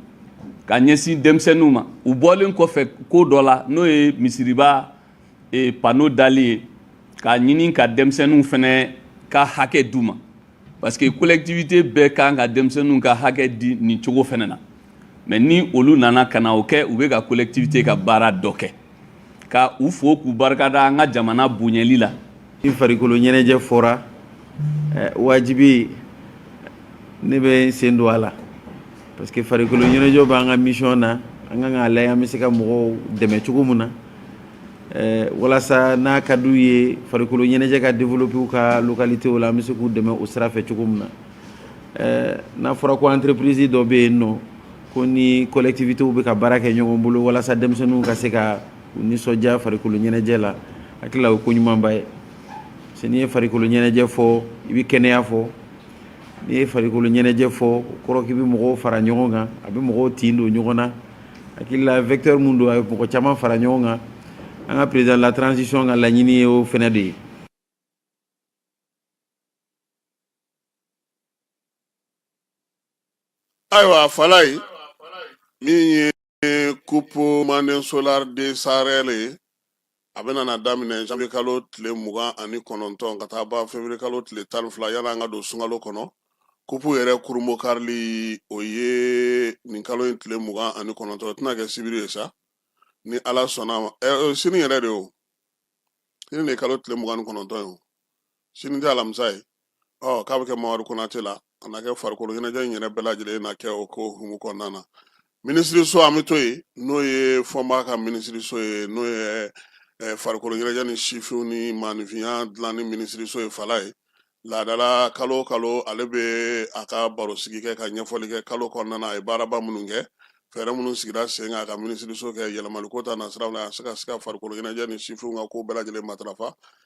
ka ɲɛsin denmisɛnninw ma u bɔlen kɔfɛ ko dɔ la n'o ye misiriba e panneau dali ye k'a ɲini ka denmisɛnninw fɛnɛ ka hakɛ d'u ma parce que collectivité bɛɛ kan ka denmisɛnninw ka hakɛ di nin cogo fɛnɛ na mais ni olu nana ka na o kɛ u bɛ ka collectivité ka baara dɔ kɛ ka u fo k'u barikada an ka jamana bonyɛli la i farikolo ɲɛnajɛ fɔra eh, wajibi ne bɛ n sen don a la parce que farikolo ɲɛnajɛ b'an ka mission na an kan k'a lajɛ an bɛ se ka mɔgɔw dɛmɛ cogo min na eh, walasa n'a ka d'u ye farikolo ɲɛnajɛ ka développer u ka localité la an bɛ se k'u dɛmɛ o sira fɛ cogo min na eh, n'a fɔra ko entreprise dɔ bɛ yen nɔ ko ni collectivités bɛ ka baara kɛ ɲɔgɔn bolo walasa denmisɛnninw ka se ka u nisɔndiya farikolo ɲɛnajɛ la hakili la o ko ɲumanba ye parce que n'i ye farikolo ɲɛnajɛ fɔ i bɛ kɛnɛya fɔ n'i ye farikolo ɲɛnajɛ fɔ o kɔrɔ k'i bɛ mɔgɔw fara ɲɔgɔn kan a bɛ mɔgɔw tin don ɲɔgɔn na hakili la vecteur min don a bɛ mɔgɔ caman fara ɲɔgɔn kan an ka président de la transition ka laɲini ye o fɛnɛ de ye ayiwa falayi min ye kupu manden solar de sarl ye a bɛna na daminɛ janvier kalo tile mugan ani kɔnɔntɔn ka taa ban février kalo tile tan ni fila yan'an ka don sunkalo kɔnɔ kupu yɛrɛ kurunbonkarili o ye nin kalo in tile mugan ani kɔnɔntɔn tɛna kɛ sibiri ye sa ni ala sɔnna ma ɛ sini yɛrɛ de o sini de ye kalo tile mugan ni kɔnɔntɔn ye o sini tɛ alamisa ye ɔ k'a bɛ kɛ mamadu konate la a na kɛ farikolo ɲɛnajɛ in yɛrɛ bɛɛ lajɛlen na kɛ o ko humu kɔnɔna na minisiriso an bɛ to yen n'o ye fɔnba ka minisiriso ye n'o ye eh, farikolo ɲɛnajɛ ni sifinw ni maanifinya dilanni minisiriso ye fala ye laadala kalo o kalo ale bɛ a ka barosigi kɛ ka ɲɛfɔli kɛ kalo kɔnɔna na a ye baaraba minnu kɛ fɛɛrɛ minnu sigira sen kan a ka minisiriso kɛ yɛlɛmaliko ta nasiraw la a se ka se ka farikolo ɲɛnajɛ ni sifinw ka ko bɛɛ lajɛlen matarafa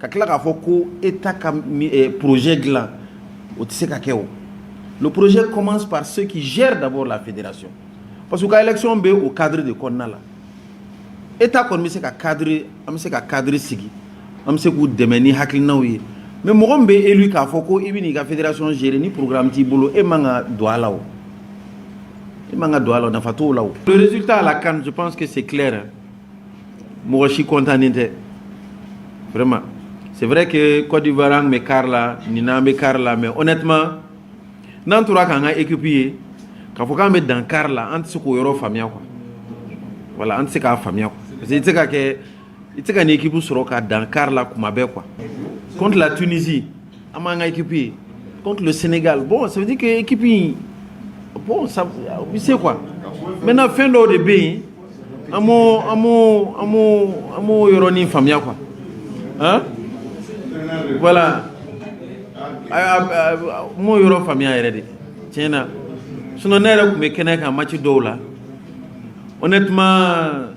ka tila k'a fɔ ko e ta ka pze dilan o tɛ se ka kɛ o poroze kɔmanse k'ire dabɔ la fedira so parce que ka yɛlɛcon bɛ o kadi de kɔnɔna la e ta kɔni bɛ se ka kari an bɛ se ka kari sigi an bɛ se k'u dɛmɛ ni hakilinaw ye mɛ mɔgɔ min bɛ e k'a fɔ ko i bɛ'i ka feeredirason sere ni porourmi bɛ t'i bolo e man ka don a la o e man ka don a la nafa t' la o psi t'a la kansi panseke se mɔgɔ si kɔntannen tɛ vraiment c'est vrai que Côte d'Ivoire an bɛ quart la nin an bɛ quart la mais honnêtement n'an tora k'an ka équipe ye k'a fɔ k'an bɛ dan quart la an tɛ se k'o yɔrɔ faamuya quoi voilà an tɛ se k'a faamuya quoi parce que i tɛ se ka kɛ i tɛ se ka nin équipe sɔrɔ ka dan quart la kuma bɛɛ quoi contre la Tunisie An m'an ka équipe ye contre le Sénégal bon ça veut dire que équipe in bon ça u bɛ se quoi maintenant fɛn dɔw de bɛ yen an m'o an m'o an m'o an m'o yɔrɔnin faamuya quoi hein voilà a a a n m'o yɔrɔ faamuya yɛrɛ de tiɲɛ na sinon ne yɛrɛ tun bɛ kɛnɛ kan match dɔw la honnêtement.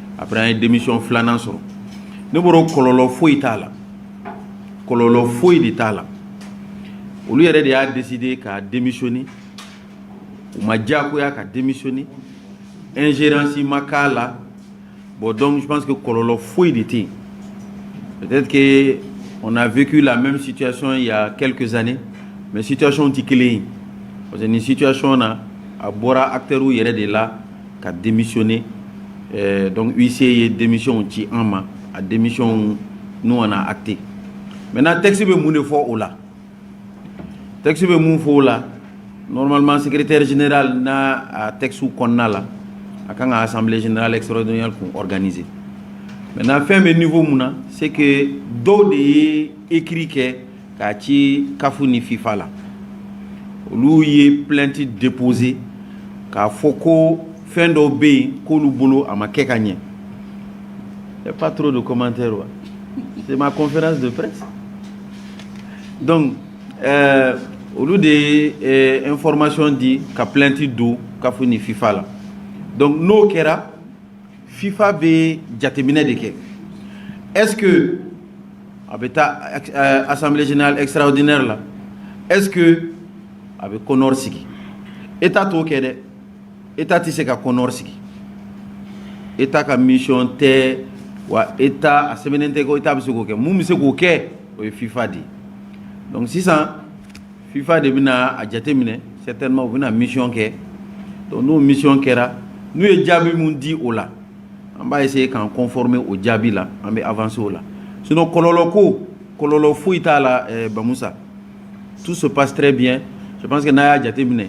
après an ye démission filanan sɔrɔ ne bolo kɔlɔlɔ foyi t'a la kɔlɔlɔ foyi de t'a la olu yɛrɛ de y'a décidé ka démissionner u ma diyakoya ka démissionner ingérence ma k'a la bon donc je pense que kɔlɔlɔ foyi de tɛ yen peut-être que on a vécu la même situation il y a quelques années mais situation tɛ kelen ye parce que nin situation na a bɔra acteurs yɛrɛ de la ka démissionner eh, donc huissier ye démissionw ci an ma a démissionw ninnu on a acté maintenant texte bɛ mun de fɔ o la texte bɛ mun fɔ o la normalement secrétaire général n'a a texte kɔnɔna la a kan ka assemblée générale extraordinaire kun organiser maintenant fɛn bɛ niveau mun na c'est que dɔw de ye écrit kɛ k'a ci CAF ni FIFA la olu ye plainte déposé k'a fɔ ko fɛn dɔw bɛ yen k'olu bolo a ma kɛ ka ɲɛ y a pas trop de commentaires wa c'est ma conférence de presse donc euh, olu de ye eh, information di ka plainte don CAF ni FIFA la donc n'o kɛra Fifa bɛ jateminɛ de kɛ es a bɛ taa eh, asanbilenz esararawdɛ la es a bɛ kɔnɔri sigi e t' t'o kɛ dɛ e t' tɛ se ka kɔnɔri sigi e t' ka miɔn tɛ wa e a sɛbɛnnen tɛ ko e t' bɛ se k'o kɛ mun bɛ se k'o kɛ o ye fifa de ye sisan fifa de bɛna a jate minɛ certainement u bɛna mission kɛ donc n'o mission kɛra n'u ye jaabi mun di o la an b'a essayer k'an conformer o jaabi la an bɛ avancer o la sinon kɔlɔlɔ ko kɔlɔlɔ foyi t'a la eh, bamusa tout se passe très bien je pense que n'a y'a jate minɛ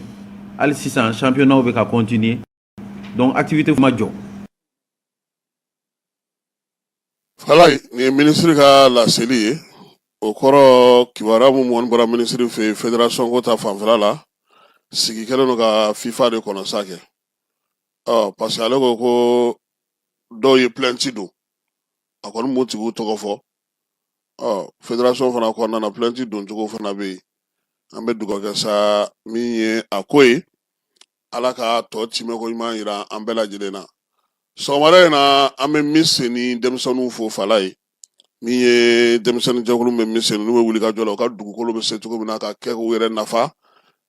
hali sisan championnat bɛ ka continuer donc activité ma jɔ Falayi nin ye minisiri ka laseli ye o kɔrɔ kibaruya mun mɔni bɔra minisiri fɛ yen federasɔn ko ta fanfɛla la sigi kɛlen don ka fifa de kɔnɔ sa kɛ ɔ parce que ale ko ko dɔw ye pilɛnti don a kɔni m'u tigiw tɔgɔ fɔ ɔ federasɔn fana kɔnɔna na pilɛnti don cogo fana bɛ yen an bɛ dugawu kɛ sa min ye a ko ye ala ka tɔ timɛko ɲuman yira an bɛɛ lajɛlen na sɔgɔmada in na an bɛ Miseni denmisɛnninw fo Falayi min ye denmisɛnnin jɛkulu bɛ Miseni u bɛ wuli ka jɔ la u ka dugukolo bɛ se cogo min na ka kɛ k'u yɛrɛ nafa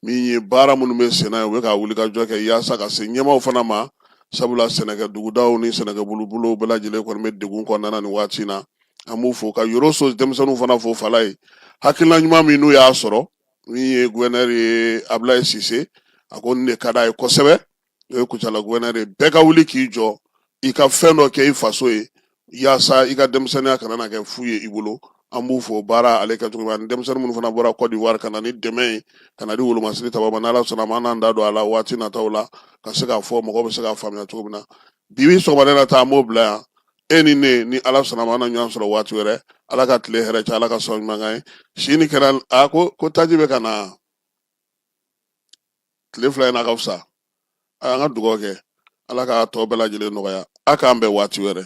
min ye baara minnu bɛ senna ye u bɛ ka wuli ka jɔ kɛ yaasa ka se ɲɛmaaw fana ma sabula sɛnɛkɛ dugudaw ni sɛnɛkɛ bolobolow bɛɛ lajɛlen kɔni bɛ degun kɔnɔna nin waati in na an b'u fo ka Yɔrɔso denmisɛnninw fana fo Falayi hakilina ɲuman min n'u y'a sɔrɔ min ye gouverneur ye abulayi sise a ko nin de ka d'a ye kosɛbɛ o ye kucala gouverneur ye bɛɛ ka wuli k'i jɔ i ka fɛn dɔ kɛ i faso ye yaasa i ka denmisɛnninya kana na kɛ fu ye i bolo an b'u fo baara ale kɛ cogo min ani denmisɛnnin minnu fana bɔra kɔdiwari ka na ni dɛmɛ ye ka na di wolomasiri taba ma n' ala sɔnna ma an n'an da don a la waati nataw la ka se k'a fɔ mɔgɔ bɛ se k'a faamuya cogo min na bi bi sɔgɔmada in na ta an b'o bila yan e ni ne ni ala sɔnna ma an na ɲɔgɔn sɔrɔ waati wɛrɛ ala ka tile hɛrɛ caya ala ka sɔn ɲuman kan ye sini kɛra a ko ko taji bɛ ka na tile fila in na ka fisa a y'an ka dugawu kɛ ala ka tɔ bɛɛ lajɛlen nɔgɔya a k'an bɛn waati wɛrɛ